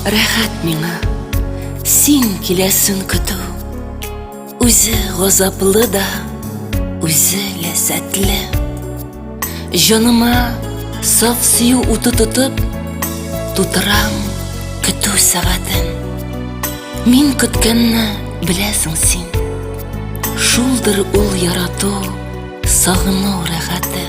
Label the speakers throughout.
Speaker 1: Рәхәт миңа, син киләсен көтү, Үзе газаплы да, үзе ләззәтле. Җаныма саф сөю уты тотып, Тутырам көтү сәгатен. Мин көткәнне беләсең син, Шулдыр ул ярату, сагыну рәхәте.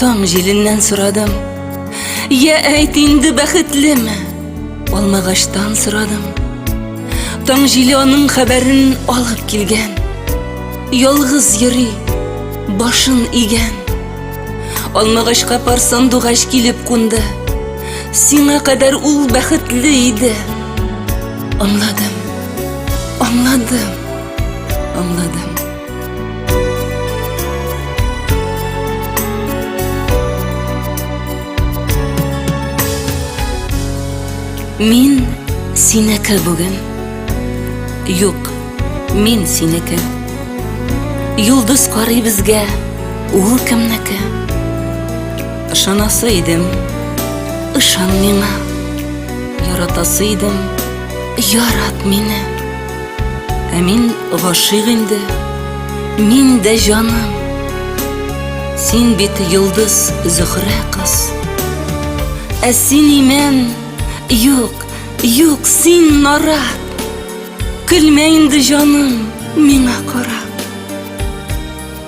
Speaker 1: Таң җиленнән сорадым, Я әйт инде бәхетлеме? Алмагаштан сорадым. Таң җиле аның хәбәрен алып килгән. Ялгыз йөри, башын игән. Алмагачка пар сандугач килеп кунды. Сиңа кадәр ул бәхетле иде. Аңладым. Аңладым. Аңладым. Мин синеке бүген. Юк, мин синеке. Юлдыз карый безгә, ул кемнеке? Ышанасы идем, ышан миңа. Яратасы идем, ярат мине. Ә мин гашыйк инде, мин дә җаным. Син бит йолдыз Зөхрә кыз. Ә син имән, юк, юк, син нарат. Көлмә инде җаным миңа карап.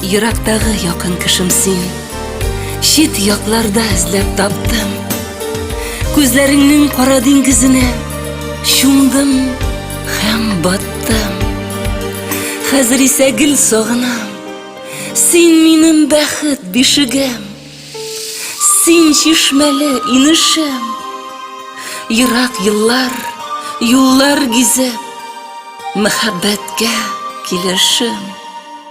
Speaker 1: Йөрәктәге якын кешем син Чит якларда эзләп таптым Күзләреңнең кара диңгезенә Чумдым һәм баттым Хәзер исә гел сагынам Син минем бәхет бишегем Син чишмәле инешем Ерак еллар, юллар гизеп Мәхәббәткә килешем